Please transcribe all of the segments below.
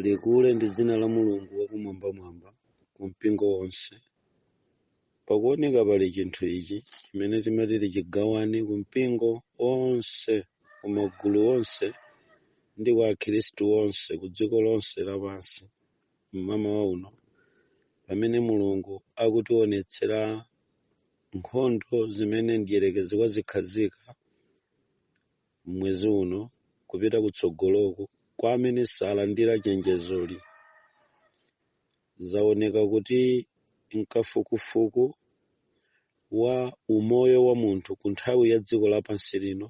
likule ndi dzina la mulungu wakumwambamwamba ku mpingo onse pakuoneka pali chinthu ichi chimene timati tichigawane ku mipingo yonse ku magulu onse ndi kwa akhristu onse ku dziko lonse lapansi mmamawa uno pamene mulungu akutionetsera nkhondo zimene mdierekezi wazikhazika m'mwezi uno kupita kutsogoloku kwa amene salandira chenjezoli. Zaoneka kuti m'kafukufuku wa umoyo wa munthu ku nthawi ya dziko lapansi lino,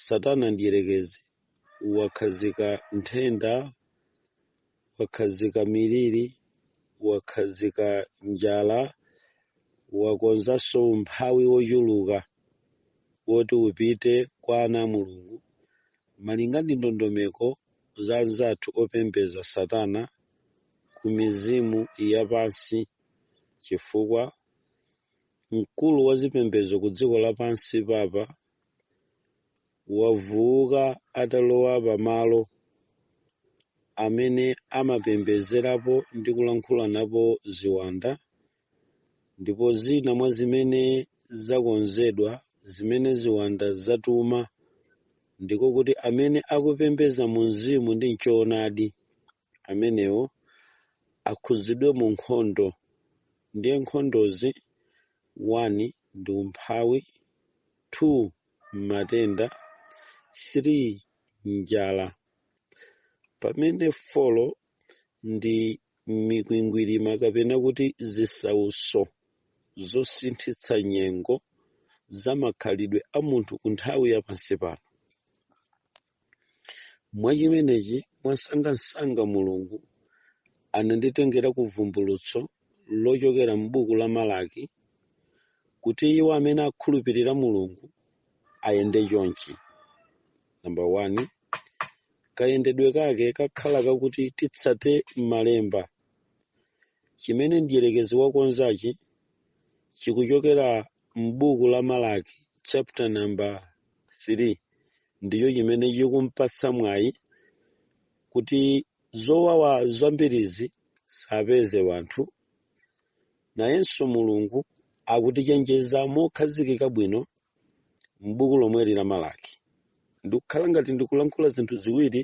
Satana Mdyerekezi wakhazika nthenda wakhazika miliri wakhazika njala wakonzanso umphawi wochuluka woti upite kwa ana a mulungu malinga ndi ndondomeko za anzathu opembeza satana ku mizimu yapansi chifukwa mkulu wa zipembezo ku dziko lapansi papa wavuuka atalowa pamalo amene amapembezerapo ndi kulankhula napo ziwanda ndipo zina mwa zimene zakonzedwa zimene ziwanda zatuma ndiko kuti amene akupembeza mu mzimu ndi mchoonadi amenewo akhudzidwe mu nkhondo ndiye nkhondozi 1 ndi umphawi 2 matenda 3 njala pamene 4 ndi mikwingwirima kapena kuti zisauso zosinthitsa nyengo za makhalidwe a munthu ku nthawi ya pansi pano mwa chimenechi mwansangansanga mulungu ananditengera ku vumbulutso lochokera m'buku la malaki kuti iwo amene akhulupirira mulungu ayende chonchi namba 1 kayendedwe kake kakhala kakuti titsate malemba chimene mdyerekezi wakonzachi chikuchokera m'buku la malaki chapter number 3 ndicho chimene chikumpatsa mwayi kuti zowawa zambiri zisapeze wanthu. Nayenso Mulungu akutichenjeza mokhazikika bwino m'buku lomweli la Malaki. Ndikukhala ngati ndikulankhula zinthu ziwiri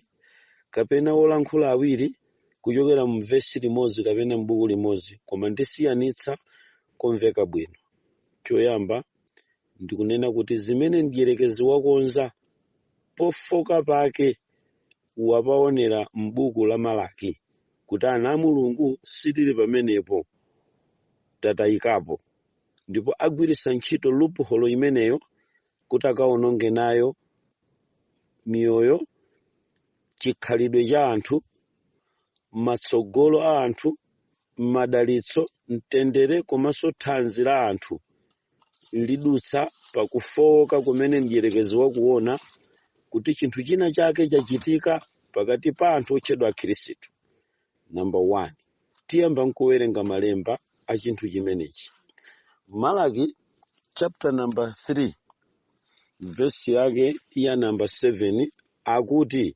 kapena wolankhula awiri kuchokera mu vesi limodzi kapena m'buku limodzi, koma ndisiyanitsa komveka bwino. Choyamba, ndikunena kuti zimene mdyerekezi wakonza pofoka pake wapaonera m'buku la Malaki kuti ana a Mulungu sitili pamenepo, tatayikapo, ndipo agwiritsa ntchito loophole imeneyo kuti akawononge nayo miyoyo, chikhalidwe cha anthu, matsogolo a anthu, madalitso, mtendere komanso thanzi la anthu lidutsa pa kufowoka kumene mdierekezi wakuona kuti chinthu china chake chachitika pakati pa anthu otchedwa Akhristu. Namba 1 tiyamba nkuwerenga malemba a chinthu chimenechi. Malaki chapter number 3 verse yake ya namba 7 akuti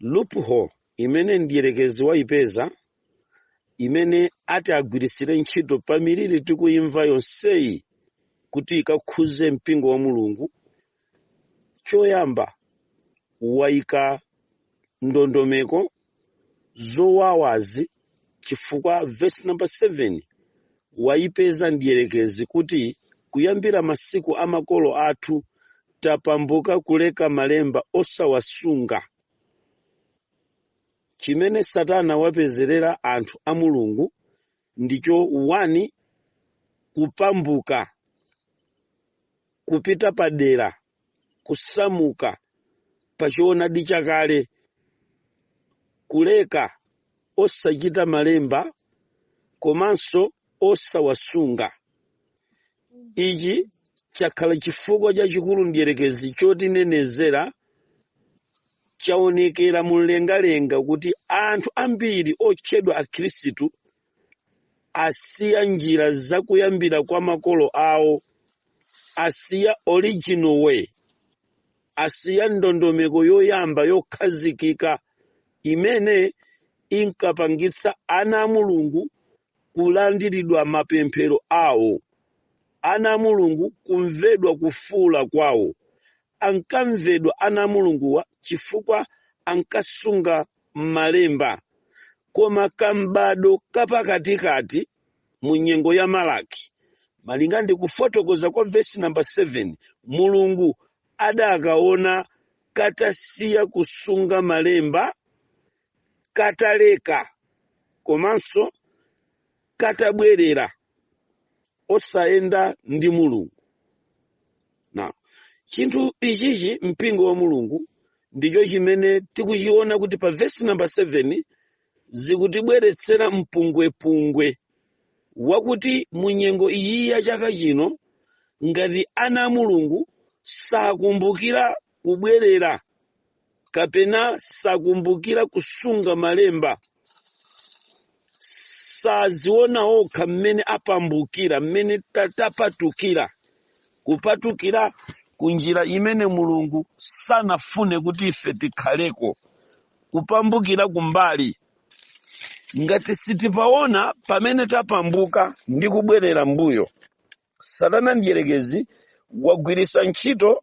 loophole imene mdierekezi wayipeza imene ati agwiritsire ntchito pa miliri tikuyimva yonseyi kuti ikakhuze mpingo wa mulungu choyamba wayika ndondomeko zowawazi chifukwa verse number 7 waipeza mdierekezi kuti kuyambira masiku a makolo athu tapambuka kuleka malemba osawasunga chimene satana wapezerera anthu a mulungu ndicho 1 kupambuka kupita padera kusamuka pa choonadi chakale, kuleka osachita malemba komanso osawasunga. Ichi chakhala chifukwa chachikulu mdierekezi chotinenezera. Chaonekera mumlengalenga kuti anthu ambiri otchedwa Akhristu asiya njira za kuyambira kwa makolo awo asiya original way asiya ndondomeko yoyamba yokhazikika imene inkapangitsa ana a mulungu kulandiridwa mapemphero awo ana a mulungu kumvedwa kufuula kwawo ankamvedwa ana a Mulunguwa chifukwa ankasunga Malemba. Koma kam'bado kapakatikati mu nyengo ya Malaki, malinga ndi kufotokoza kwa vesi namba 7, Mulungu adakaona katasiya kusunga Malemba, kataleka komanso katabwerera osayenda ndi mulungu now chinthu ichichi mpingo wa mulungu ndicho chimene tikuchiona kuti pa vesi namba 7 zikutibweretsera mpungwepungwe wakuti mu nyengo iyi ya chaka chino ngati ana a mulungu sakumbukira kubwerera kapena sakumbukira kusunga malemba saziona okha mmene apambukira mmene tapatukira kupatukira ku njira imene mulungu sanafune kuti ife tikhaleko kupambukira kumbali ngati sitipaona pamene tapambuka ndi kubwerera mbuyo satana mdyerekezi wagwiritsa ntchito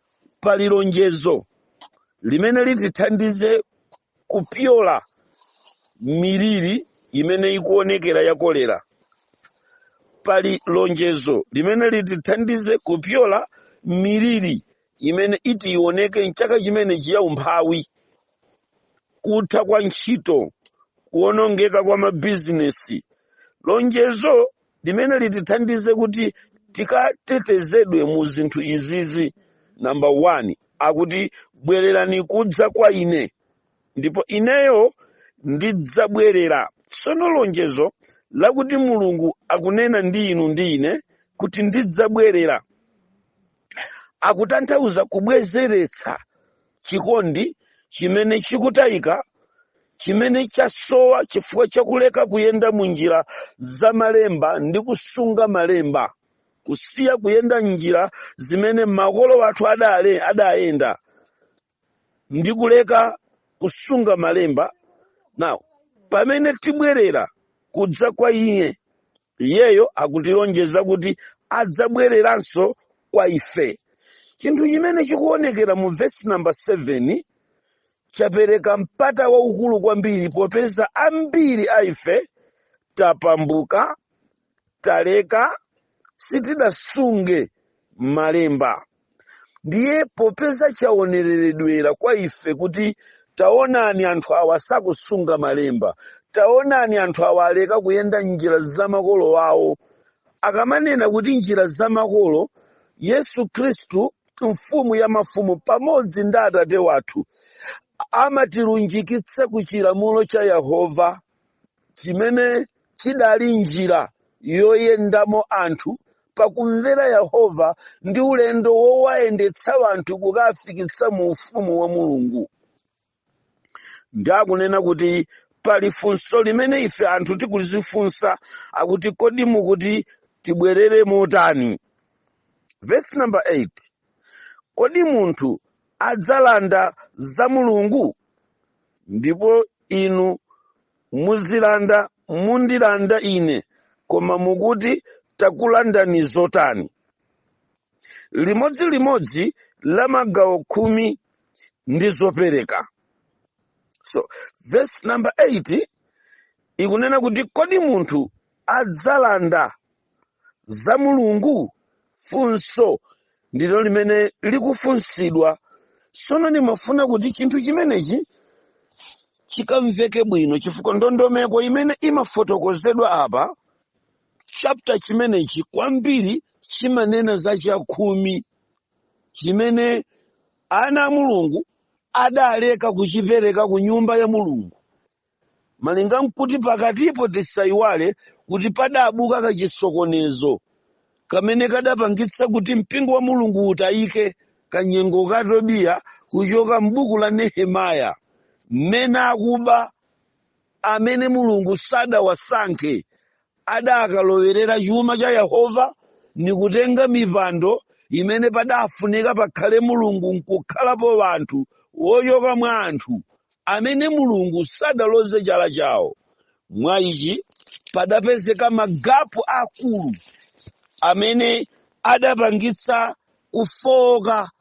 pali lonjezo limene litithandize kupyola miliri imene ikuonekera ya kolera pali lonjezo limene litithandize kupyola miliri imene iti ioneke mchaka chimenechi ya umphawi kutha kwa ntchito kuonongeka kwa mabizinesi lonjezo limene litithandize kuti tikatetezedwe mu zinthu izizi namba 1 akuti bwererani kudza kwa ine ndipo ineyo ndidzabwerera tsono lonjezo lakuti mulungu akunena ndi inu ndi ine kuti ndidzabwerera akutanthauza kubwezeretsa chikondi chimene chikutayika chimene chasowa chifukwa chakuleka kuyenda mu njira za malemba ndi kusunga malemba kusiya kuyenda m'njira zimene makolo athu adayenda ndi kuleka kusunga malemba now pamene tibwerera kudza kwa iye iyeyo akutilonjeza kuti adzabwereranso kwa ife chinthu chimene chikuonekera mu vesi namba 7 chapereka mpata waukulu kwambiri popeza ambiri a ife tapambuka taleka sitidasunge malemba ndiye popeza chaonereredwera kwa ife kuti taonani anthu awa sakusunga malemba taonani anthu awa aleka kuyenda njira za makolo awo akamanena kuti njira za makolo yesu khristu mfumu ya mafumu pamodzi ndi atate wathu amatilunjikitsa ku chilamulo cha yehova chimene chidali njira yoyendamo anthu pakumvera Yehova ndi ulendo wowayendetsa anthu kukafikitsa mu ufumu wa Mulungu. Ndi akunena kuti pali funso limene ife anthu tikulifunsa akuti kodi mukuti tibwerere motani? Verse number 8. Kodi munthu adzalanda za Mulungu? Ndipo inu muzilanda mundilanda ine, koma mukuti takulandani zotani? Limodzi limodzi la magawo khumi ndi zopereka. So, verse number 8 ikunena kuti kodi munthu adzalanda za mulungu funso ndilo limene likufunsidwa sono ndimafuna kuti chinthu chimenechi chikamveke bwino chifukwa ndondomeko imene imafotokozedwa apa chapter chimenechi kwambiri chimanena za chakhumi chimene ana a mulungu adaleka kuchipereka ku nyumba ya mulungu Malinga nkuti pakatipo tisaiwale kuti padabuka kachisokonezo kamene kadapangitsa kuti mpingo wa Mulungu utayike kanyengo ka Tobia kuchoka m'buku la Nehemaya mmene akuba amene Mulungu sadawasankhe adakalowerera chuma cha Yehova nikutenga mipando imene padafunika pakhale Mulungu nkukhalapo anthu wochoka mwa anthu amene Mulungu sadaloze chala chawo. Mwa ichi padapezeka magapu akulu amene adapangitsa kufooka.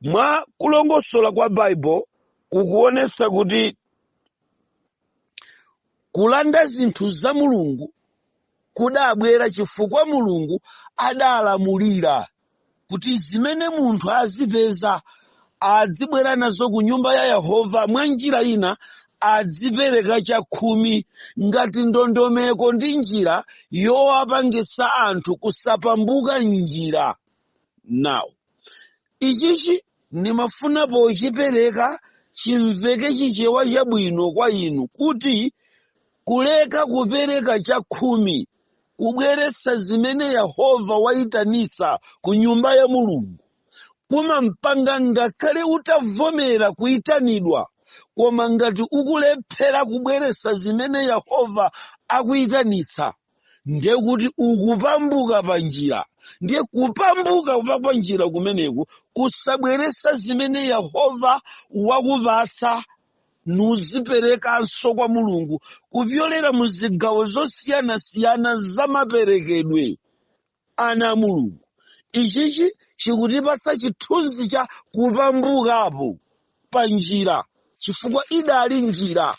Mwa kulongosola kwa Bible kukuonetsa kuti Kulanda zinthu za Mulungu kudabwera chifukwa Mulungu adalamulira kuti zimene munthu azipeza adzibwera nazo ku nyumba ya Yehova mwa njira ina adzipereka chakhumi ngati ndondomeko ndi njira yowapangitsa anthu kusapatuka njira. Now, Ichichi ndimafuna pochipereka chimveke chichewa chabwino kwa inu kuti kuleka kupereka chakhumi kubweretsa zimene Yehova waitanitsa ku nyumba ya Mulungu kumampanga ngakhale utavomera kuitanidwa koma ngati ukulephera kubweretsa zimene Yehova akuitanitsa ndiye kuti ukupambuka pa njira ndiye kupambuka pa pa njira kumeneku kusabweretsa zimene yehova wakupatsa nuziperekanso kwa mulungu kupyolera mu zigawo zosiyanasiyana za maperekedwe ana a Mulungu. Ichichi chikutipatsa chithunzi cha kupambukapo pa njira chifukwa idali njira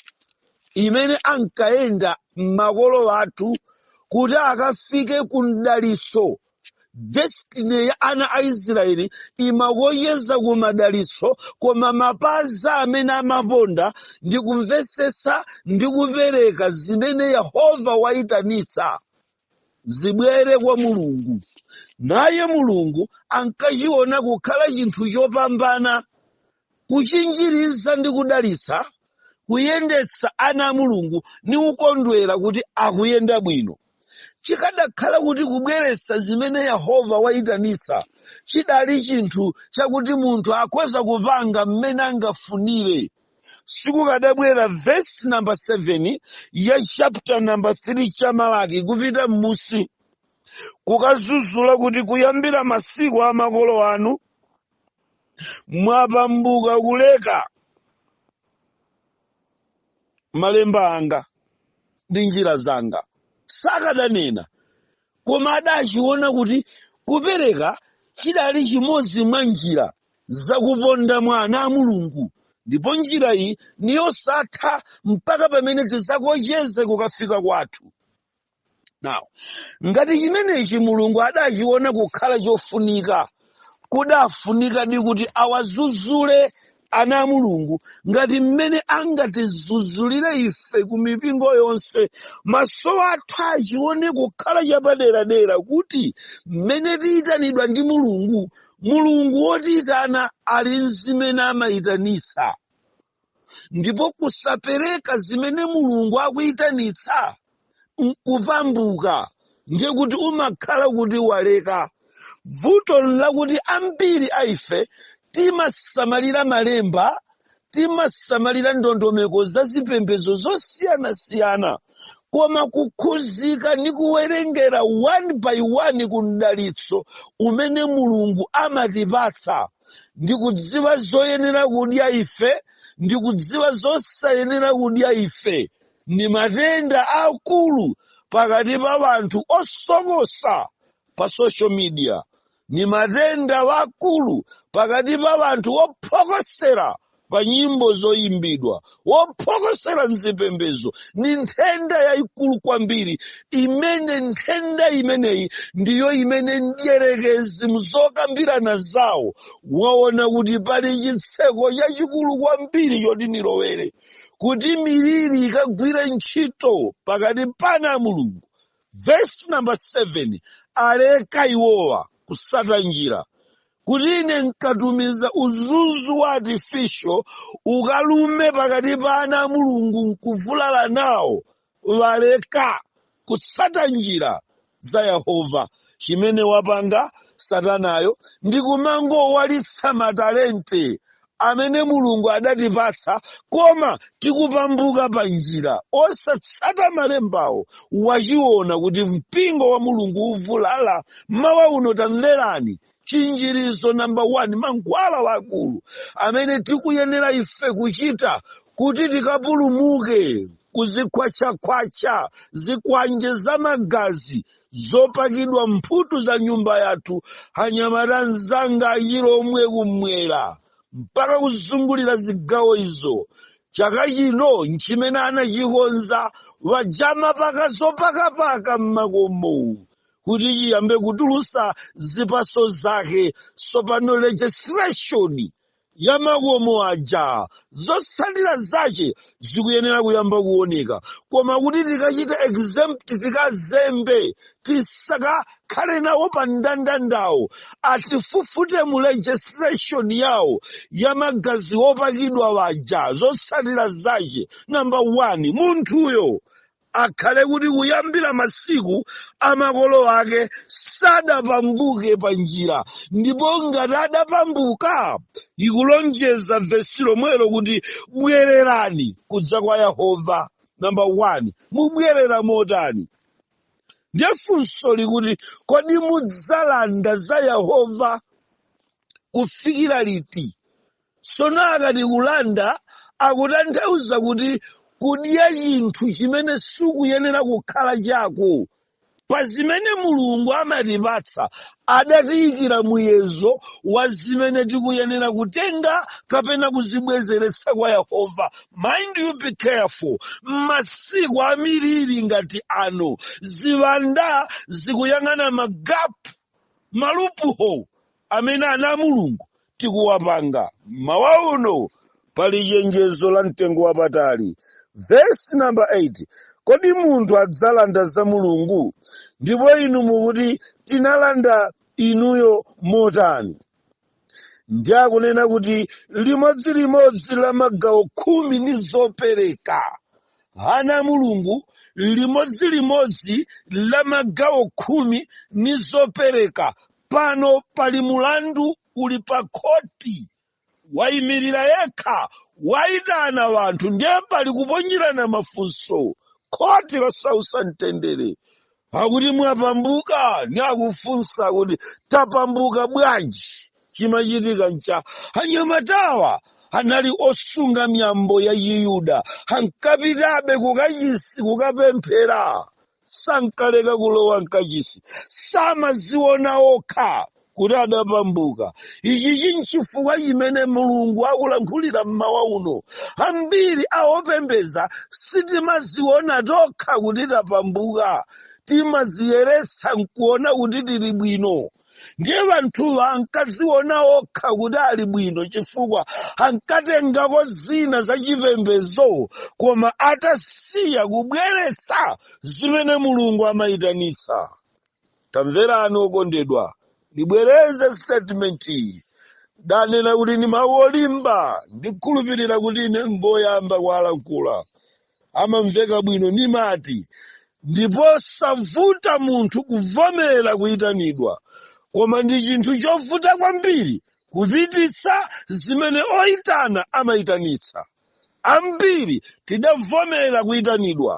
imene ankayenda makolo athu kuti akafike ku mdalitso. Destiny ya ana a Israeli imaloza ku madalitso koma mapazi amene amaponda ndi kumvetsetsa ndi kupereka zimene Yehova waitanitsa. zibwere kwa mulungu naye mulungu ankachiona kukhala chinthu chopambana kuchinjiriza ndi kudalitsa kuyendetsa ana a mulungu ni kukondwera kuti akuyenda bwino chikadakhala kuti kubweretsa zimene yehova wayitanitsa chidali chinthu chakuti munthu akhoza kupanga mmene angafunire sikukadabwera vesi namba 7 ya chapter namba 3 cha malaki kupita m'musi kukazuzula kuti kuyambira masiku a makolo anu mwapambuka kuleka malemba anga ndi njira zanga sakadanena koma adachiona kuti kupereka chidali chimodzi mwa njira zakuponda mwa ana a Mulungu, ndipo njira iyi ni yosatha mpaka pamene tidzakocheze kukafika kwathu. Now, ngati chimenechi Mulungu adachiona kukhala chofunika, kudafunikadi kuti awazuzule ana a Mulungu ngati mmene angatizuzulire ife ku mipingo yonse. Maso athu achione kukhala chapaderadera kuti mmene tiyitanidwa ndi Mulungu mulungu wotiyitana ali nzimene amayitanitsa ndipo kusapereka zimene mulungu akuyitanitsa nkupambuka ndiye kuti umakhala kuti waleka vuto nlakuti ambiri a ife timasamalira malemba timasamalira ndondomeko za zipembedzo zosiyanasiyana koma kukhuzika ndi kuwerengera one by one ku mdalitso umene mulungu amatipatsa ndi kudziwa zoyenera kudya ife ndi kudziwa zosayenera kudya ife ndi matenda akulu pakati pa wanthu osokosa pa social media ni matenda wakulu pakati pa wanthu wophokosera pa nyimbo zoyimbidwa wophokosera mzipembezo ni nthenda yayikulu kwambiri imene nthenda imeneyi ndiyo imene mdyerekezi mzokambirana zawo waona kuti pali chitseko chachikulu kwambiri choti nilowere kuti miliri ikagwire ntchito pakati pa ana a mulungu Vesi namba 7 aleka iwowa kutsata njira kuti ine nkatumiza udzudzu wa artificial ukalume pakati pa ana a mulungu nkuvulala nawo waleka kutsata njira za yehova chimene wapanga satanayo ndi kumangowalitsa matalente amene Mulungu adatipatsa, koma tikupambuka pa njira, osatsata malembawo, wachiona kuti mpingo wa Mulungu uvulala. Mawa uno tamverani chinjirizo namba 1 mankhwala wakulu amene tikuyenera ife kuchita kuti tikapulumuke kuzikhwatchakhwatcha zikwanje za magazi zopakidwa mphutu za nyumba yathu anyamata anzanga achilomwe kumwera mpaka kuzungulira zigawo izo chaka chino nchimene anachikonza waja amapaka zopakapaka mmakomomu kuti chiyambe kutulusa zipaso zake sopano registration ya makomo aja zotsatira zache zikuyenera kuyamba kuoneka koma kuti tikachita exempt tikazembe tisakakhale nawo pa mndandandawo atifufute mu registration yawo ya magazi opakidwa waja zotsatira zache namba 1 munthuyo akhale kuti kuyambira masiku a makolo ake sadapambuke pa njira ndipo ngati adapambuka likulonjeza vesi lomwelo kuti bwererani kudza kwa yehova namba 1 mubwerera motani ndiye funso likuti kodi mudzalanda za yehova kufikira liti Tsono akati kulanda akutanthauza kuti kudya chinthu chimene sichikuyenera kukhala chako. Pa zimene Mulungu amatipatsa adatiyikira muyezo wa zimene tikuyenera kutenga kapena kuzibwezeretsa kwa Yehova. Mind you be careful. Masiku a miliri ngati ano, ziwanda zikuyang'ana magapu, ma loophole, amene ana a Mulungu tikuwapanga. Mmawa uno pali chenjezo la mtengo wapatali. Vesi namba 8, kodi munthu adzalanda za Mulungu? Ndipo inu mukuti, Tinalanda inuyo motani? Ndiye akunena kuti limodzi limodzi la magawo khumi ndi zopereka. Ana a Mulungu limodzi limodzi la magawo khumi ndi zopereka Pano pali mulandu uli pa khoti, waimirira yekha, waitana wanthu ndiye pali kuponyerana mafunso, khoti losausa mtendere. Akuti mwapambuka ni akufunsa kuti tapambuka bwanji? Chimachitika ncha anyamatawa anali osunga miyambo ya Chiyuda, ankapitabe kukachisi kukapemphera. sankaleka kulowa mkachisi samaziona okha kuti adapambuka ichi chinchifukwa chimene mulungu akulankhulira mmawa uno ambiri awopembeza sitimaziona tokha kuti tapambuka timaziyeretsa nkuona kuti tili bwino ndiye wanthuwa ankadziona okha kuti ali bwino chifukwa ankatengako zina za chipembedzo koma atasiya kubweretsa zimene mulungu amayitanitsa tamverani okondedwa ndibwereze statement iyi ndanena kuti ndi mawu olimba ndikhulupirira kuti ine ngoyamba kuwalankhula amamveka bwino nimati ndi posavuta munthu kuvomera kuyitanidwa koma ndi chinthu chovuta kwambiri kupititsa zimene oyitana amayitanitsa ambiri tidavomera kuyitanidwa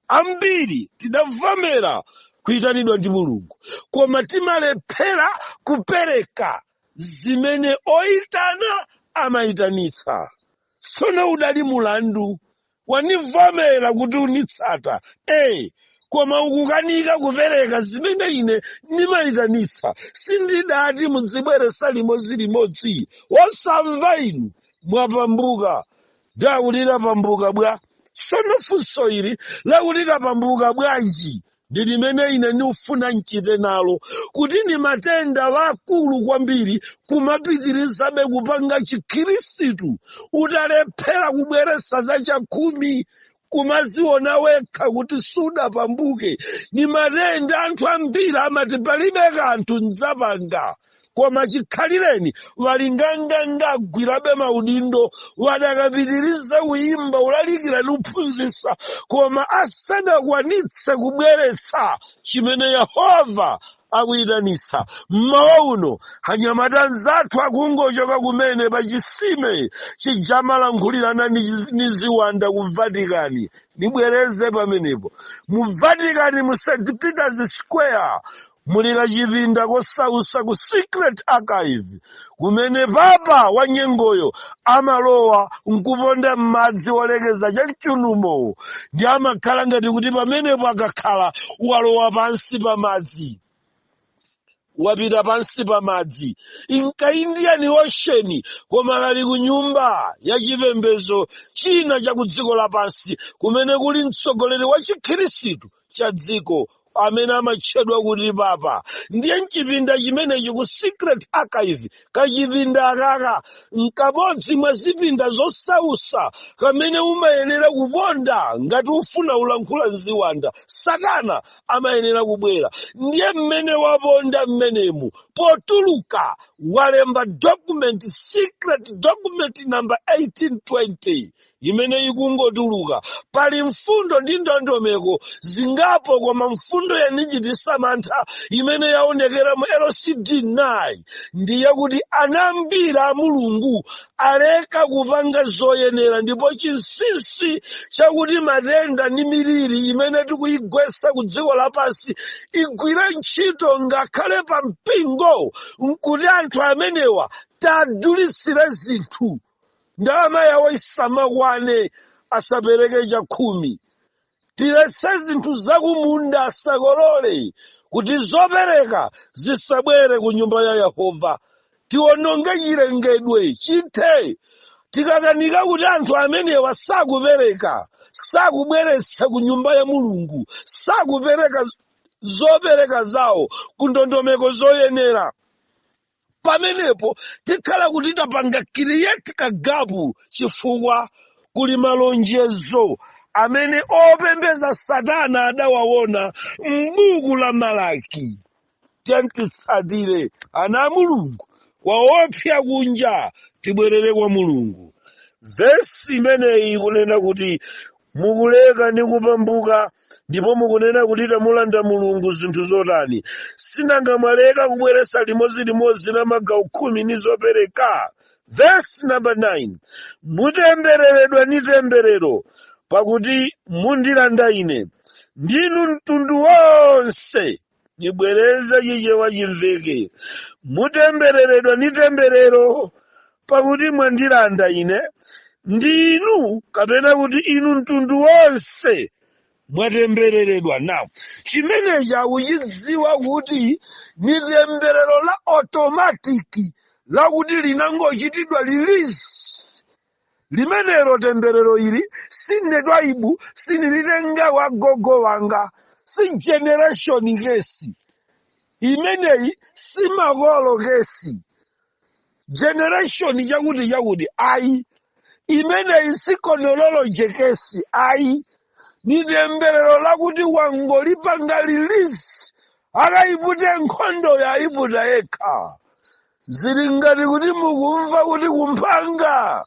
ambiri tidavomera kuyitanidwa ndi mulungu koma timalephera kupereka zimene oyitana amayitanitsa Tsono udali mulandu, wandivomera kuti unitsata, e, koma ukukanika kupereka zimene ine ndimaitanitsa, sindidati mudzibweretsa limodzilimodzi, wosamva inu, mwapambuka. Ndiye akuti tapambuka bwa? Tsono funso ili lakuti tapambuka bwanji? ndi limene ine ndikufuna nchite nalo kuti ndi matenda akulu kwambiri kumapitirizabe kupanga chikhirisitu utalephera kubweresa za chakhumi kumaziona wekha kuti sudapambuke ni matenda anthu ambiri amati palibe kanthu ndzapanga koma chikhalireni walinganganga agwirabe maudindo wadakapitiriza kuyimba kulalikira ndi kuphunzitsa koma asadakwanitse kubweretsa chimene yehova akuyitanitsa mmawa uno anyamata anzathu akungochoka kumene pa chisime chija amalankhulirana ndi chi- ndi ziwanda ku vatikani nibwereze pamenepo mu vatikani mu st peters square muli kachipinda kosausa ku secret archive kumene papa wa nyengoyo amalowa nkuponda m'madzi olekeza cha mchunumowo ndi amakhala ngati kuti pamenepo akakhala walowa pansi pa madzi wapita pansi pa madzi mu ka indian ocean koma kali ku nyumba ya chipembezo china cha ku dziko lapansi kumene kuli mtsogoleri wa chikhirisitu cha dziko amene amatchedwa kuti papa ndiye mchipinda chimenechi ku secret archive kachipinda akaka nkamodzi mwa zipinda zosausa kamene umayenera kuponda ngati ufuna kulankhula nziwanda satana amayenera kubwera ndiye mmene waponda mmenemu potuluka walemba document secret document number 1820 imene ikungotuluka. Pali mfundo ndi ndondomeko zingapo koma mfundo yanichititsa mantha imene yaonekera mu LCD9 ndi yakuti ana ambiri a Mulungu aleka kupanga zoyenera ndipo chinsinsi chakuti matenda ndi miliri imene tikuyigwetsa ku dziko lapansi igwire ntchito ngakhale pa mpingo nkuti anthu amenewa tadulitsire zinthu ndalama yawo isamakwane asapereke chakhumi tiletse zinthu zakumunda asakolole kuti zopereka zisabwere ku nyumba ya yehova tiononge chilengedwe chithe tikakanika kuti anthu amenewa sakupereka sakubweretsa ku nyumba ya mulungu sakupereka zopereka zawo ku ndondomeko zoyenera pamenepo tikhala kuti tapanga create kagapu chifukwa kuli malonjezo amene opembeza satana adawawona m'buku la malaki tiyeni titsatire ana a mulungu kwaopsa kunja tibwerere kwa mulungu vesi imeneyi ikunena kuti mukuleka ndi kupatuka ndipo mukunena kuti tamulanda mulungu zinthu zotani sinanga mwaleka kubweretsa limodzi limodzi la magawo khumi ni zopereka vesi namba 9 mutembereredwa ni temberero pakuti mundilanda ine ndinu mtundu wonse ndibwereze chichewa chimveke mutembereredwa ndi temberero pakuti mwandilanda ine ndi inu kapena kuti inu mtundu wonse mwatembereredwa now chimenechi akuchidziwa kuti ni temberero la otomatiki lakuti linangochitidwa lilisi limenelo temberero ili sine twaibu sinilitenga wa gogo wanga si generation kesi imeneyi si makolo kesi generation chakuti chakuti ayi imeneyi si chronology kesi ayi ni temberero lakuti wangolipanga release akayipute nkhondo wayiputa yekha zili ngati kuti mukumva kuti kumphanga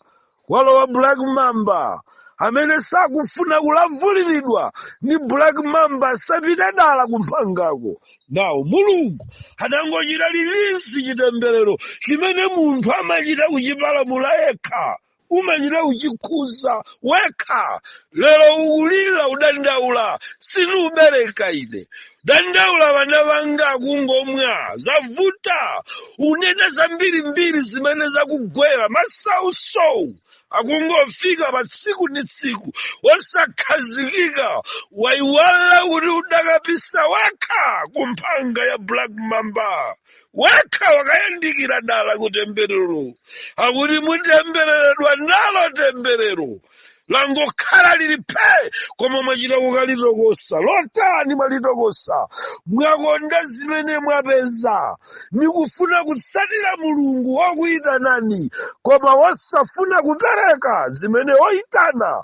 walowa black mamba amene sakufuna kulavuliridwa ndi black mamba sapita dala kumphangako now mulungu adangochita release chitemberero chimene munthu amachita kuchipalamula yekha umachita kuchikhuza wekha lero ukulira udandaula sindibereka ine udandaula vana vanga akungomwa zavuta unena zambiri mbiri zimene zakugwera masausowu akungofika pa tsiku ndi tsiku osakhazikika waiwala kuti udakapisa wekha ku mphanga ya black mamba wekha wakayandikira dala ku temberero akuti mutembereredwa nalo temberero langokhala lili phe koma mwachita kukalitokosa lotani mwalitokosa mwakonda zimene mwapeza nikufuna kutsatira mulungu wokuyitanani koma wosafuna kupereka zimene woyitana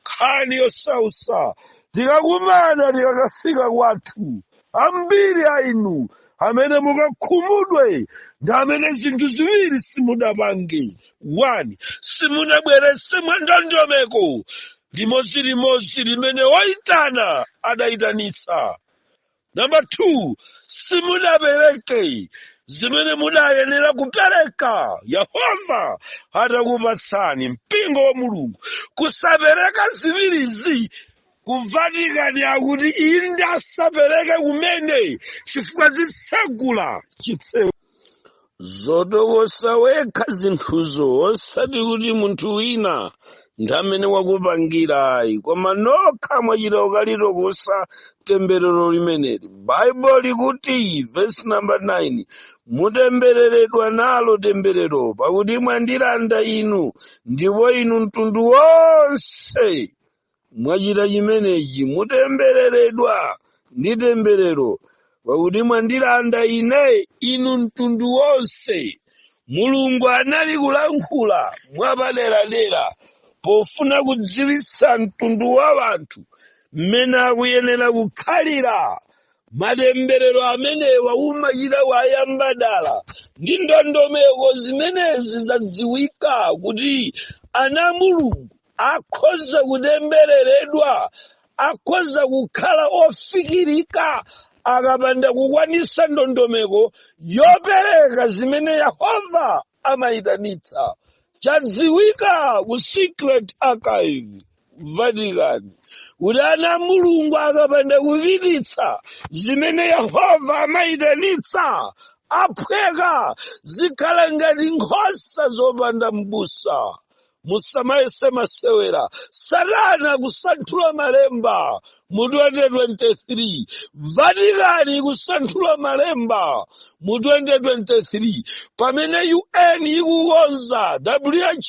nkhani yosausa tikakumana tikakafika kwathu ambiri a inu amene mukakhumudwe ndi amene zinthu ziwiri simudapange one simunabweretse mwa ndondomeko limodzi limodzi limene woyitana adayitanitsa Number two, simudapereke zimene mudayenera kupereka yehova atakupatsani mpingo wa mulungu kusapereka ziwirizi kuvatikani akuti inde asapereke kumene chifukwa zitsegula chitseko zotokosa wekha zinthuzo osati kuti munthu wina ndi amene wakupangira ayi koma nokha mwachita kukalitokosa temberero limeneli baibulo likuti vesi namba 9 mutembereredwa nalo temberero pakuti mwandilanda inu ndipo inu mtundu wonse mwachita chimenechi mutembereredwa ndi temberero pakuti mwandilanda ine inu mtundu wonse mulungu anali kulankhula mwapaderadera pofuna kudziwitsa mtundu wa anthu mmene akuyenera kukhalira matemberero amenewa umachita wayamba dala ndi ndondomeko zimenezi zadziwika kuti ana a mulungu akhoza kutembereredwa akhoza kukhala ofikirika akapanda kukwanitsa ndondomeko yopereka zimene yehova amayitanitsa chadziwika ku secret archive vatican kuti ana a mulungu akapanda kupititsa zimene yehova amayitanitsa aphweka zikhala ngati nkhosa zopanda m'busa musamayese masewera satana akusanthula malemba mu 2023 vatikani ikusanthula malemba mu 2023 pamene un ikukonza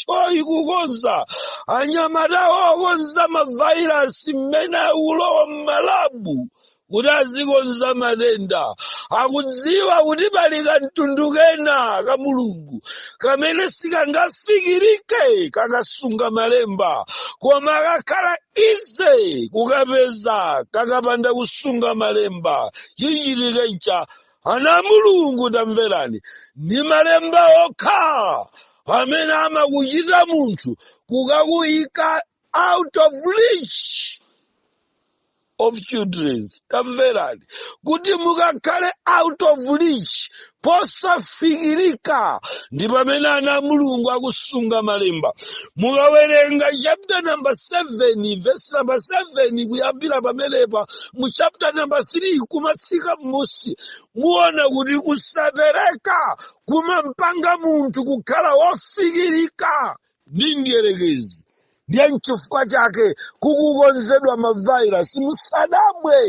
who ikukonza anyamata okonza mavairasi mmene akulowa mmalabu kuti azikonza matenda akudziwa kuti pali kamtundu kena ka mulungu kamene sikangafikirike kakasunga malemba koma kakhala easy kukapeza kakapanda kusunga malemba chichitike ncha ana a mulungu tamverani ndi malemba okha amene amakuchita munthu kukakuyika out of reach of children tamverani kuti mukakhale out of reach posafikirika ndi pamene ana a mulungu akusunga malemba mukawerenga chapter number 7 verse number 7 kuyambira pamenepa mu chapter number 3 kumatsikira m'musi muona kuti kusapereka kumampanga munthu kukhala wofikirika ndi mdierekezi ndiye nchifukwa chake kukukonzedwa mavairasi musadabwe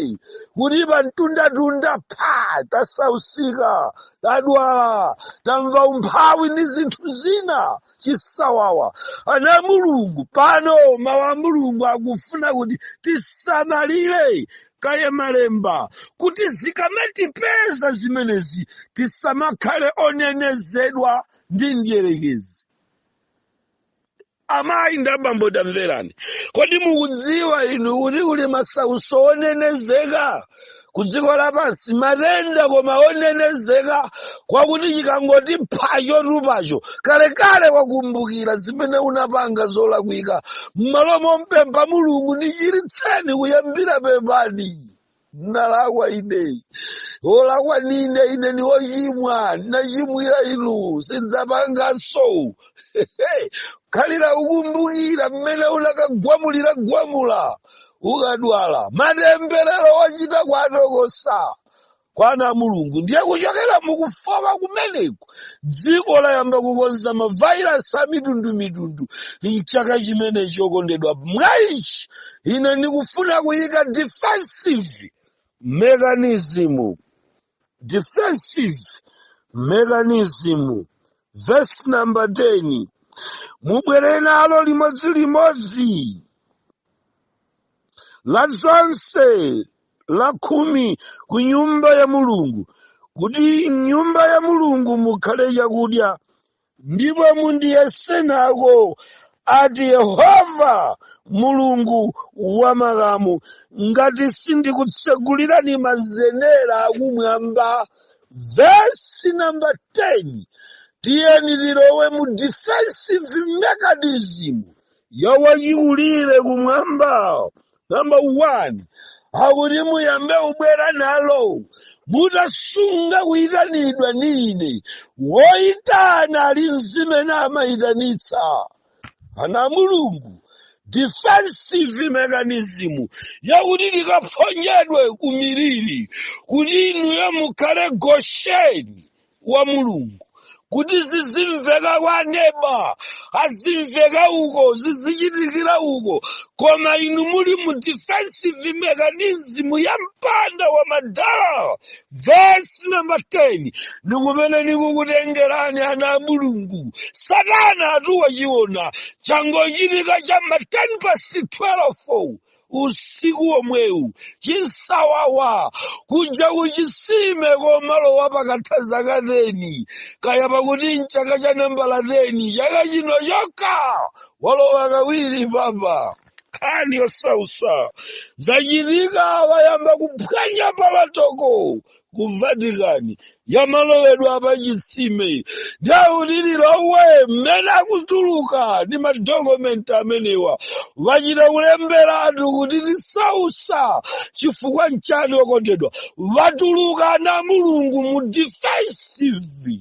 kuti pamtunda tunda pa tasausika tadwala tamva umphawi ndi zinthu zina chisawawa ana a mulungu pano mawu a mulungu akufuna kuti tisamalire kaye malemba kuti zikamatipeza zimenezi tisamakhale onenezedwa ndi mdierekezi amayi ndi abambo tamverani kodi mukudziwa inu kuti kuli masautso onenezeka ku dziko lapansi matenda koma onenezeka kwakuti chikangoti pha chotupacho kalekale ukumbukira zimene unapanga zolakwika m'malo mompempha mulungu ndichiritseni kuyambira pepani ndinalakwa ine wolakwa nine ine ni wochimwa ndinachimwira inu sindidzapanganso khalira ukumbukira mmene unakagwamulira gwamula ukadwala matemberero ochita kuwatokosa kwa ana a mulungu ndiye kuchokera mukufama kumeneko dziko layamba kukonza mavhairasi a mitundu mitundu mchaka chimenecho okondedwa mwa ichi ine ndikufuna kuyika defensive mechanism defensive mechanism verse number 10 mubwere nalo limodzi limodzi la zonse lakhumi ku nyumba ya Mulungu, kuti m'nyumba ya Mulungu mukhale chakudya, ndipo mundiyese nako, ati Yehova Mulungu wa makamu, ngati sindikutsegulirani mazenera akumwamba. Vesi namba 10 tiyeni tilowe mu defensive mechanism ya achikulire kumwamba Number one, akuti muyambe kubwera nalo mutasunga kuyitanidwa ndi ine woyitana ali mzimene amayitanitsa ana a mulungu defensive mechanism yakuti likaphonyedwe kumiliri kuti inuyo mukhale gosheni wa mulungu kuti zizimveka kwa neba azimveka uko zizichitikira uko koma inu muli mu defensive mechanism ya mpanda wa madala vesi namba 10 ndikumene nikukutengerani ana a mulungu satana atawachiona changochitika cha ma 10 past 12 usiku womwewu chipsawawa kuja kuchisime komalowa pakatha zaka teni kaya pakuti mchaka cha nambala teni chaka chino chokha walowa kawiri papa nkhani yosausa zachitika wayamba kuphwanya palatoko ku vatikani yamalowedwa pa chitsime dayo kuti lilowe mmene akutuluka ndi madokumenti amenewa wachita kulemberatu kuti tisausa chifukwa nchani okondedwa atuluka ana a mulungu mu defensive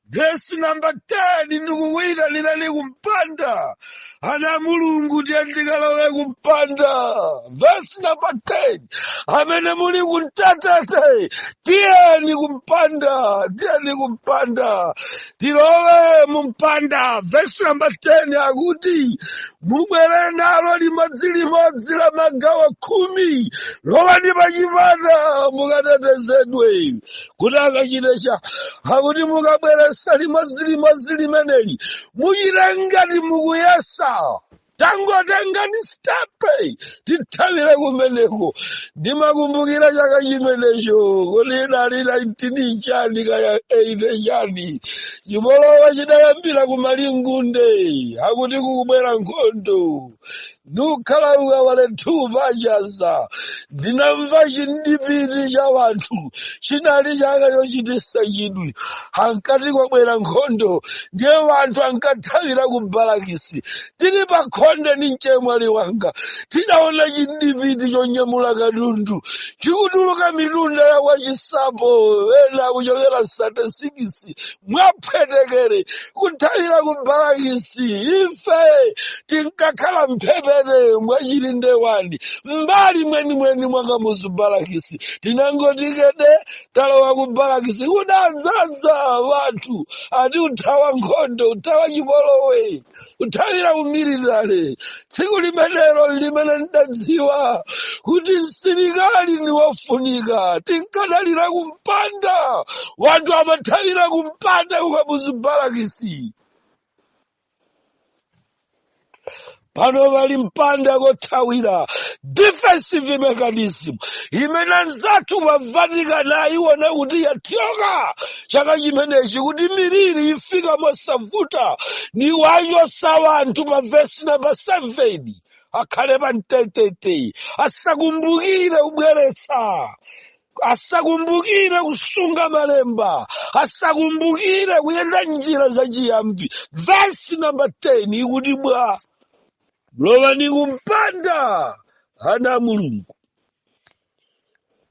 Vesi namba 10 ndikukuyitanira ni kumpanda ana a mulungu tiye tikalowe kumpanda vesi namba 10 amene muli kuntatete tiyeni kumpanda tiyeni kumpanda tilowe mumpanda vesi namba 10 akuti mubwere nalo limodzi limodzi la magawo khumi lowani pachipata mukatetezedwe kuti akachite cha akuti mukabweresa limodzi limodzi limeneli muchite ngati mukuyesa tangotengani stepe tithawire kumeneko ndimakumbukira chaka chimenecho kuti idali 19 chani kaya 8 chani chipolowa chidayambira kumalingunde akuti kukubwera nkhondo nikukhala kukawale thu pa chaza ndinamva chindipiti cha wanthu chinali chaka chochitisa chidwi ankati kwabwera nkhondo ndiye wanthu ankathawira ku balakisi tili pa khonde ndi mchemwali wanga tidaona chindipiti chonyamula katundu chikutuluka mitunda ya kwachisapo ena kuchokera 36 mwaphwetekere kuthawira ku barakisi ife tinkakhala mphepete mwa chilinde wani mmbali mwenimweni mwa kamuzu barakisi tinangoti kede talowa ku barakisi kudadzaza wanthu ati uthawa nkhondo uthawa chipolowe kuthawira kumilitale tsiku limenelo limene ndidadziwa kuti msilikali ndi wofunika tinkadalira kumpanda wanthu amathawira kumpanda kukamuzu balakisi pano pali mpanda kothawira defensive mechanism imene anzathu pa vatican ayiona kuti yathyoka chaka chimenechi kuti miliri ifika mosavuta nikuwachotsa wanthu pa vesi namba 7 akhale pa mtetete asakumbukire kubweretsa asakumbukire kusunga malemba asakumbukire kuyenda njira za chiyambi vesi namba 10 ikuti bwa lowani kumpanda ana a mulungu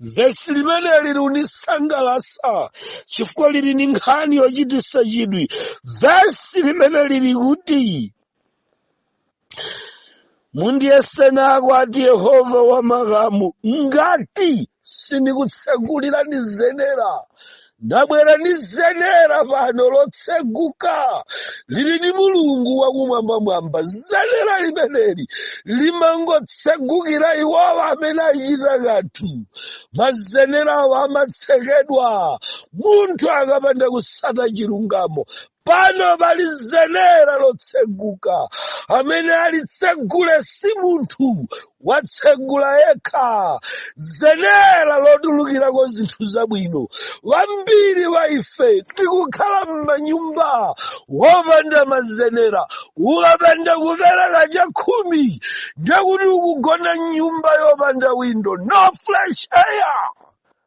vesi limeneli likunisangalasa chifukwa lili ni nkhani yochitisa chidwi vesi limeneli likuti mundiyese nako ati yehova wa makamu ngati sindikutsekulirani zenera ndabwera ndi zenera pano lotseguka lili ndi mulungu wakumwambamwamba zenera limeneli limangotsegukira iwowa amene achita kanthu mazenera awa amatsekedwa munthu akapanda kusata chilungamo pano pali zenera lotseguka amene alitsegule si munthu watsegula yekha zenera lotulukirako zinthu zabwino wambiri wa ife tikukhala m'manyumba wopanda mazenera ukapanda kupereka chakhumi ndekuti ukugona m'nyumba yopanda windo no fresh air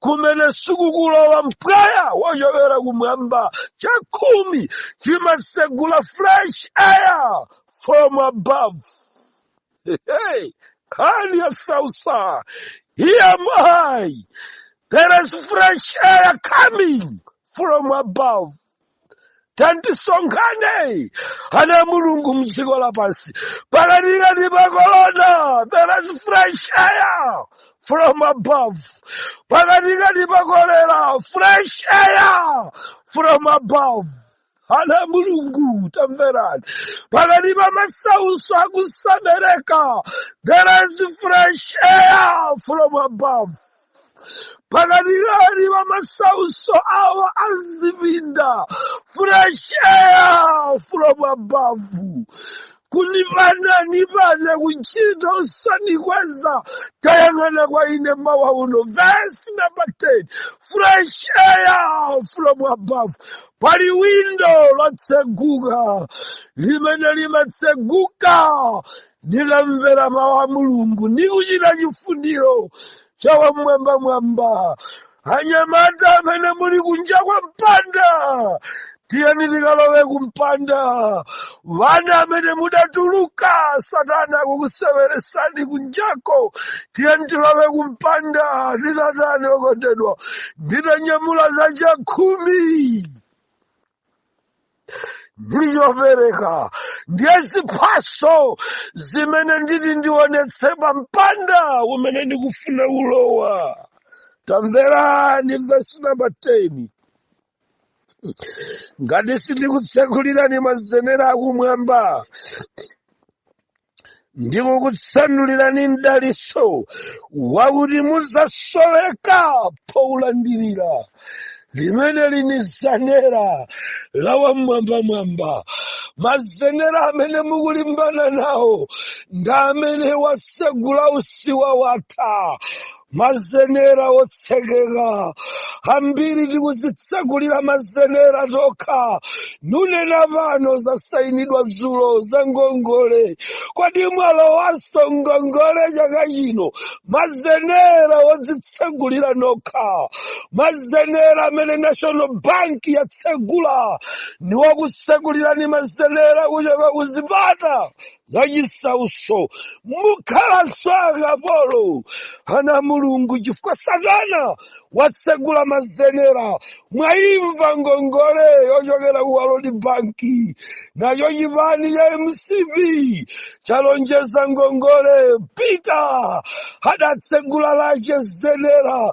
kumene sikukulowa mpweya wochokera kumwamba chakhumi chimatsegula fresh air from above hey, nkhani yosausa here am I there is fresh air coming from above tandisonkhane ana a mulungu mdziko lapansi pakatikati pa kolona there is fresh air from above pakatikati pa kolera fresh air from above ana a mulungu tamverani pakati pa masautso akusabereka there is fresh air from above pakatikati pa masautso awa a zipinda fresh air from above kunipananipane kuchita usandikweza tayang'ana kwa ine mawa uno vesi namba 10 fresh air from above pali windo lotseguka limene limatseguka nikamvera mawu a mulungu ndi kuchita chifuniro cha wamwambamwamba anyamata amene muli kunja kwa mpanda tiyeni tikalowe kumpanda vana amene mudatuluka satana kukuseweresani kunjako tiyeni tilowe kumpanda titatani okondedwa nditanyamula za chakhumi ndi chopereka ndiye ziphaso zimene nditi ndionetse pa mpanda umene ndikufuna ulowa tamverani vesi namba 10 ngati sindikutsekulirani mazenera akumwamba ndikukutsanulirani mdaliso wakuti muzasoweka poulandirira limeneli ni zenera la wamwambamwamba mazenera amene mukulimbana nawo ndi amene wasegula usiwa watha mazenera otsekeka kambiri tikuzitsegulira mazenera tokha nunena pano zasayinidwa dzulo za ngongole kodi mwalowanso ngongole chaka chino mazenera odzitsegulira nokha mazenera amene national bank yatsegula ndiwokutsegulirani mazenera kuchoka kuzipata zachisautso mukhalanso akapolo ana mulungu chifukwa satana watsegula mazenera mwaimva ngongole yochokera ku world bank nacho chipani cha mcp chalonjeza ngongole peter adatsegula lache zenera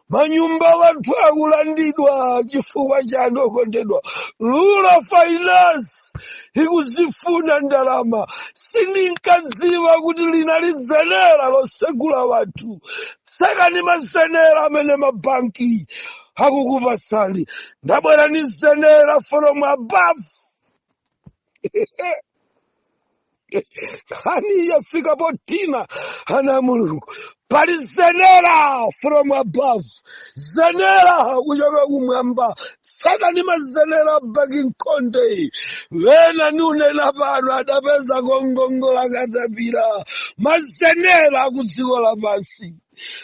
manyumba wanthu akulandidwa chifukwa chani okondedwa lula finance ikuzifuna ndalama sindinkadziwa kuti linali zenera losegula wanthu tsekani mazenera amene mabanki akukupatsani ndabwera ni zenera from above nkhani yafika potina ana a mulungu pali zenera from above zenera kuchoka kumwamba tsekani mazenera a banki mkhonde wena niunena pano adapeza kongongola katapira mazenera ku dziko lapansi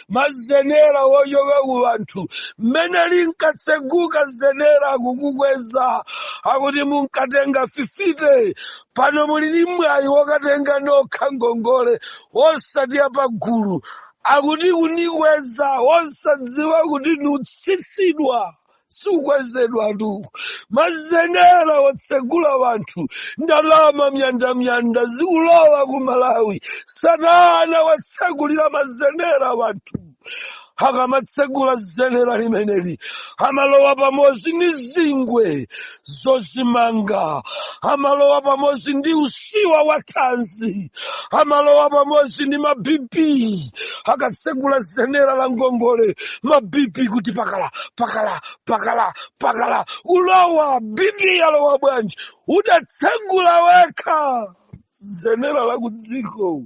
mazenera wochoka ku anthu mmene linkatseguka zenera kukukweza akuti munkatenga fifite pano muli ndi mwayi wokatenga nokha ngongole wosati apagulu akuti kundikweza wosadziwa kuti nutsitsidwa sukwezedwatu mazenera wotsegula wanthu ndalama myandamyanda zikulowa ku malawi satana watsegulira mazenera wanthu akamatsegula zenera limeneli amalowa pamodzi ndi zingwe zozimanga amalowa pamodzi ndi usiwa wa thanzi amalowa pamodzi ndi mabp akatsegula zenera la ngongole mabp kuti pakala pakala pakala pakala ulowa bp yalowa bwanji udatsegula wekha zenera la kudziko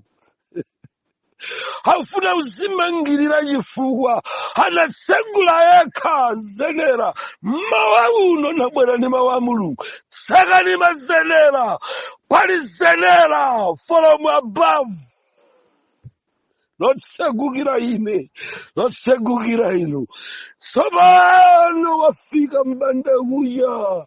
afuna kuzimangirira chifukwa anatsegula yekha zenera mmawa uno nabwera ndi mawu a mulungu tsekani mazenera pali zenera from above lotsegukira ine lotsegukira inu tsopano wafika mbanda kucha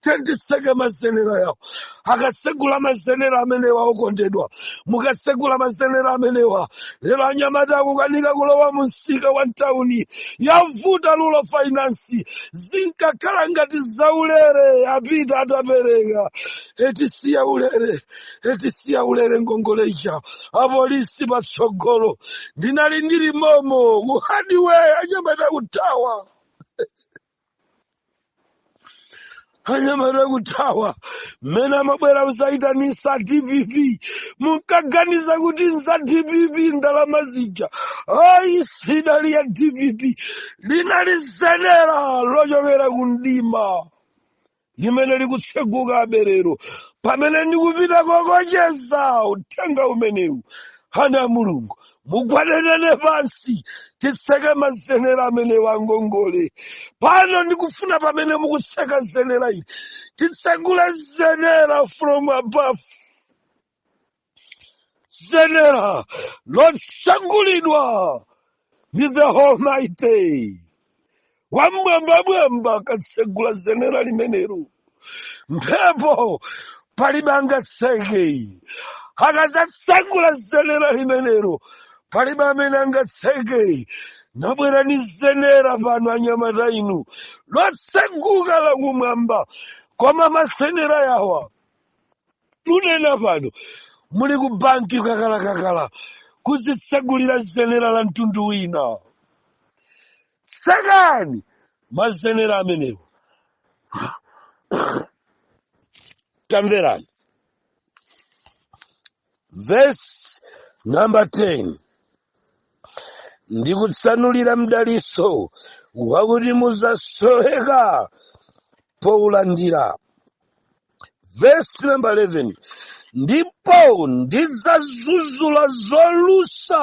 tiyeni titseke mazenera awo akatsegula mazenera amenewa okondedwa mukatsegula mazenera amenewa lero anyamata akukanika kulowa mu msika wa mtawuni yavuta Lulo Finance zinkakhala ngati zaulere apita atapereka etisiya ulere etisiya ulere ngongoleja apolisi patsogolo ndinali ndili momo mu hadiwe anyamata kuthawa anyamata kuthawa mmene amabwera kuzayitanitsa dpp munkaganiza kuti ndi za dpp ndalama zija ayi sinali ya dpp linali zenera lochokera ku mdima limene likutsegukabe lero pamene ndikupita kukocheza uthenga umenewu ana a mulungu mugwade nane pansi titseke mazenera amenewa a ngongole pano ndikufuna pamene mukutseka zenera ili titsegule zenera from above zenera lotsegulidwa ndi the almighty wamwambamwamba akatsegula zenera limenelo mphepo palibe angatseke akazatsegula zenera limenelo palibe amene angatseke nabwera ni zenera pano anyamata inu lotseguka la kumwamba koma mazenera yawa kunena pano muli ku banki kakalakakala kuzitsegulira zenera la mtundu wina tsekani mazenera amenewo tamverani vesi namba 10 ndi kutsanulira mdaliso wakuti muzasoweka poulandira vesi namba 11 ndipo ndidzadzudzula zolusa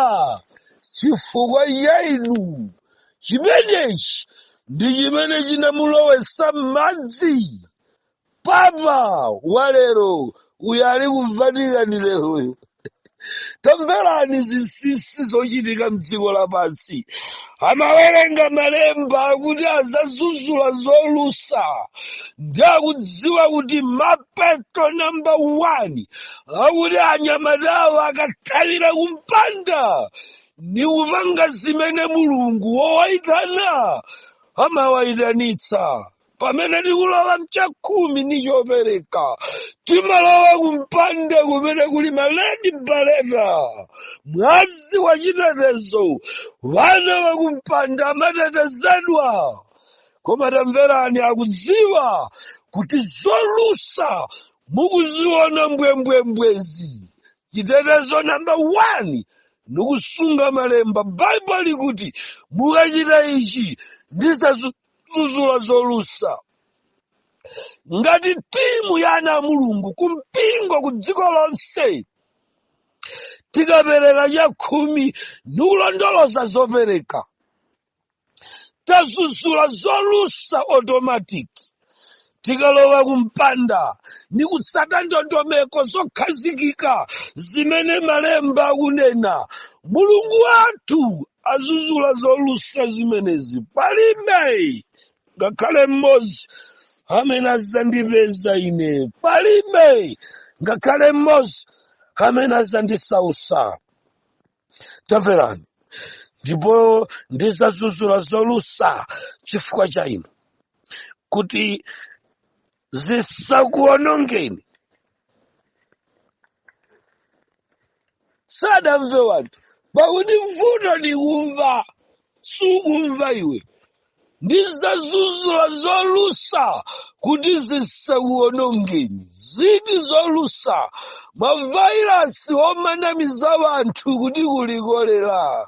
chifukwa cha inu chimenechi ndi chimene chinamulowetsa m'madzi papa wa lero uyu ali ku vatican leroyo tamverani zinsinsi zochitika mdziko lapansi amawerenga malemba akuti azadzudzula zolusa ndi akudziwa kuti mapeto namba 1 akuti anyamatawo akathawira kumpanda ni kupanga zimene mulungu wowaitanayo amawayitanitsa pamene tikulowa mchakhumi ni chopereka timalowa kumpanda kumene kuli maledi baleta mwazi wa chitetezo wana wa kumpanda amatetezedwa koma tamverani akudziwa kuti zolusa mukuziona mbwembwembwezi chitetezo namba 1 ni kusunga malemba baibulo likuti mukachita ichi ndizazu zuzula zolusa ngati timu ya ana a mulungu kumpingo ku dziko lonse tikapereka chakhumi ni kulondoloza zopereka tazuzula zolusa automatic tikalowa kumpanda ni kutsata ndondomeko zokhazikika zimene malemba akunena mulungu wathu azuzula zolusa zimenezi palibe ngakhale mmodzi amene azandipeza ine palibe ngakhale mmodzi amene azandisausa tamverani ndipo ndizazuzula zolusa chifukwa cha inu kuti zisakuonongeni sadamve wanthu pakuti mvuto ndi kumva sukumva iwe ndizazuzula zolusa kuti zisakuonongeni ziti zolusa mavairasi omanamiza wanthu kuti kuli kolera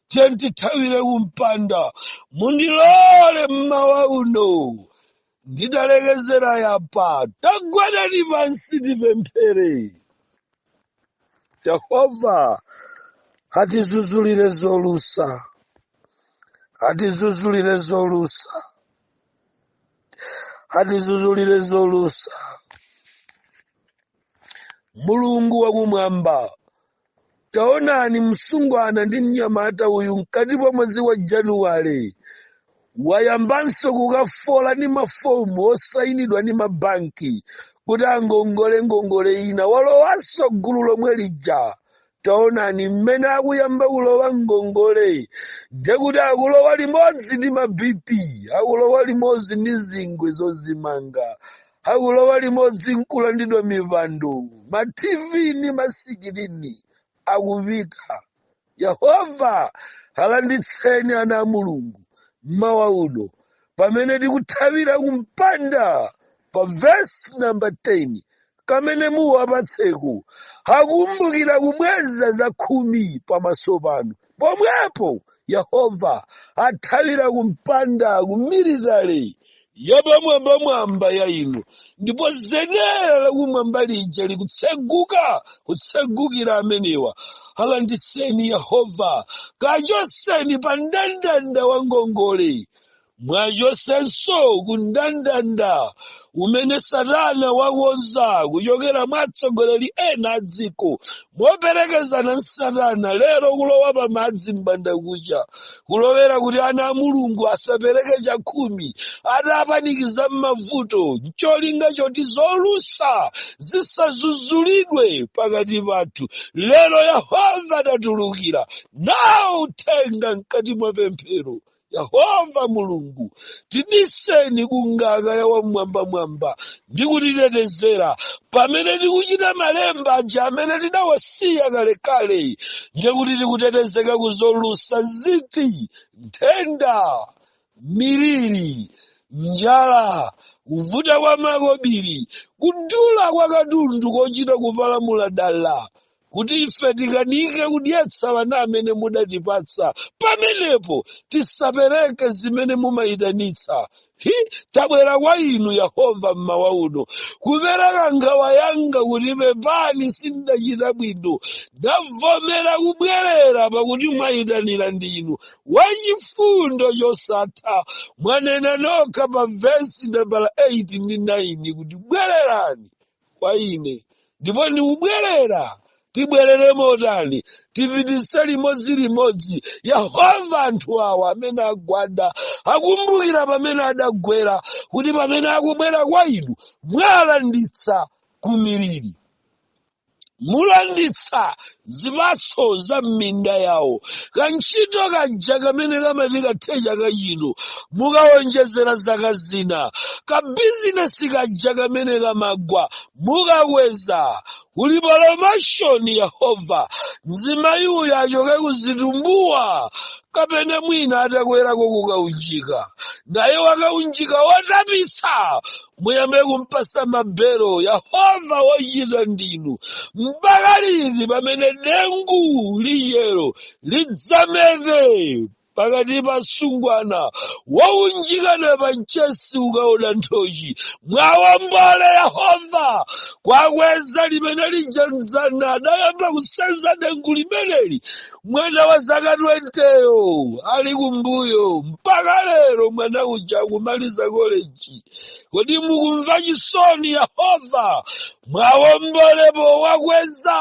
tiyeni tithawire kumpanda mundilole mmawa uno nditalekezera yapa tagwadani pansi tipemphere yehova atizuzulire zolusa atizuzulire zolusa atizuzulire zolusa mulungu wakumwamba taonani msungwana ndi mnyamata uyu mkati mwa mwezi wa januwale wayambanso kukafola ni mafomu osayinidwa ni mabanki kuti angongole ngongole ina walowanso gulu lomwe lija taonani mmene akuyamba kulowa ngongole ndekuti akulowa limodzi ndi ma bp akulowa limodzi ndi zingwe zozimanga akulowa limodzi nkulandidwa mipando ma tv ni masikirini akupita yehova alanditseni ana a mulungu mmawa uno pamene tikuthawira kumpanda pa vesi namba 10 kamene muwapatseko akumbukira kubweza za khumi pamaso panu Pomwepo Yehova athawira kumpanda ku military yapamwambamwamba ya inu, ndipo zenera lakumwamba lija likutseguka kutsegukira amenewa. Alanditseni Yehova, kachoseni pa ndandanda wa ngongole mwachosenso ku ndandanda umene satana wakonza kuchokera mwa atsogoleri ena a dziko moperekezana ndi satana lero kulowa pa madzi m'bandakucha kulowera kuti ana a mulungu asapereke chakhumi atapanikiza m'mavuto ncholinga choti zolusa zisazuzulidwe pakati pathu lero yehova atatulukira nawo uthenga mkati mwa pemphero yehova mulungu tibiseni ku ngaka ya wam'mwambamwamba ndi kutitetezera pamene tikuchita malemba aja amene tidawasiya kalekale ndiye kuti tikutetezeka ku zolusa ziti nthenda miliri njala kuvuta kwa makobiri kudula kwa katundu kochita kupalamula dala kuti ife tikanike kudyetsa ana amene mudatipatsa pamenepo tisapereke zimene mumayitanitsa hi tabwera kwa inu yehova mmawa uno kupereka nkhawa yanga kuti pepani sindachita bwino ndavomera kubwerera pakuti mwayitanira ndinu wachifundo chosatha mwanena nokha pa vesi nambala 8 ndi 9 kuti bwererani kwa ine ndipo ndikubwerera tibwerere motani tipititse limodzi limodzi yehova anthu awa amene agwada akumbukira pamene adagwera kuti pamene akubwera kwa inu mwalanditsa ku miliri mulanditsa zipatso za m'minda yawo kantchito kaja kamene kamati kathe chaka chino mukawonjezera zaka zina kabizinesi kaja kamene kamagwa mukakweza kuli pulomoshoni yehova mzimayi uyu achoke kuzitumbuwa kapena mwina atakwerako kukaunjika naye wa kaunjika wotapitsa muyambe kumpasa mabelo yehova wochita ndinu mpaka liti pamene dengu liyero lidzamete pakati pa asungwana wounjikana pa mchesi ukaona nthochi mwawombole yehova kwakweza limene lija mzana adayamba kusenza dengu limeneli mwana wa zaka 20yo ali kumbuyo mpaka lero mwana uja akumaliza koleji kodi mukumva chisoni yehova mwawombolepo mwakweze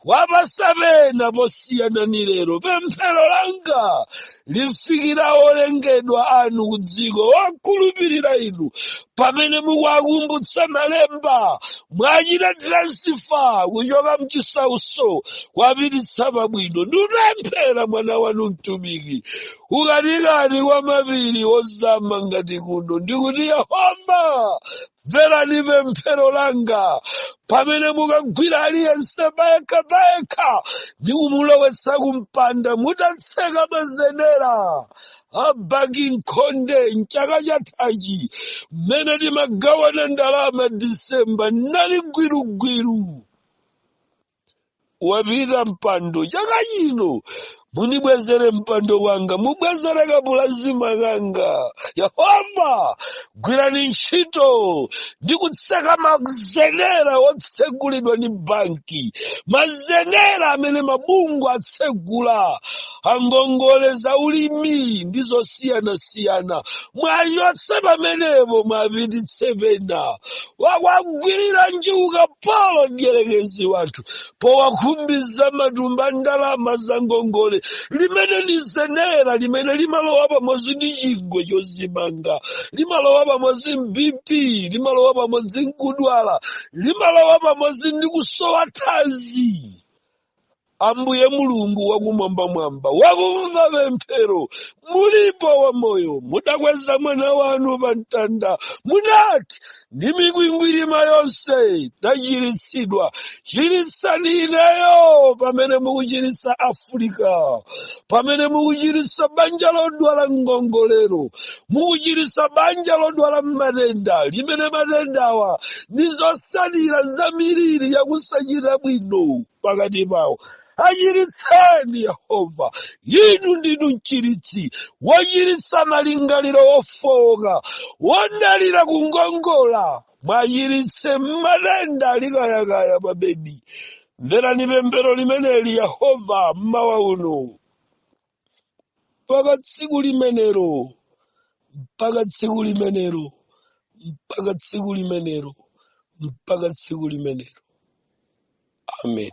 mwapatse pena posiyana ni lero pemphero langa lifikira olengedwa anu ku dziko okhulupirira inu pamene mukuwakumbutsa malemba mwachite transifa kuchoka mchisauso kwapititsa pabwino ndipemphera mwana wanu mtumiki mkatikati mwa mapiri ozama ngati kuno ndikuti yehova mverani pemphero langa pamene mukagwira aliyense payekha payekha ndi kumulowetsa kumpanda mukatseka mazenera a banki nkhonde mchaka chathachi mmene timagawana ndalama disemba anali gwirugwiru wapita mpando chaka chino munibwezere mpando wanga mubwezere kapulazima kanga yehova gwirani ntchito ndi kutseka mazenera otsegulidwa ndi banki mazenera amene mabungwe atsegula angongole za ulimi ndi zosiyanasiyana mwachotse pamenepo mwapititse pena wawagwirira njuga polo mdierekezi anthu powakhumbiza matumba ndalama za ngongole limene ndi zenera limene limalowa pamodzi ndi chingwe chodzimanga limalowa pamodzi ndi bp limalowa pamodzi nkudwala limalowa pamodzi ndi kusowa thanzi ambuye mulungu wakumwambamwamba wakumva pemphero mulipo wa moyo mudakweza mwana wanu pa mtanda munati ndi mikwingwirima yake tachiritsidwa chiritsani ineyo pamene mukuchiritsa afrika pamene mukuchiritsa banja lodwala ngongolero mukuchiritsa banja lodwala matenda limene matendawa ndi zosalira za miliri yakusachita bwino pakati pawo achiritseni yehova inu ndinu mchiritsi wochiritsa malingaliro ofooka odalira kungongola mwachiritse matenda ali kayakaya pa bedi mverani pemphero limeneli yehova mmawa uno mpaka tsiku limenelo mpaka tsiku limenelo mpaka tsiku limenelo mpaka tsiku limenelo amen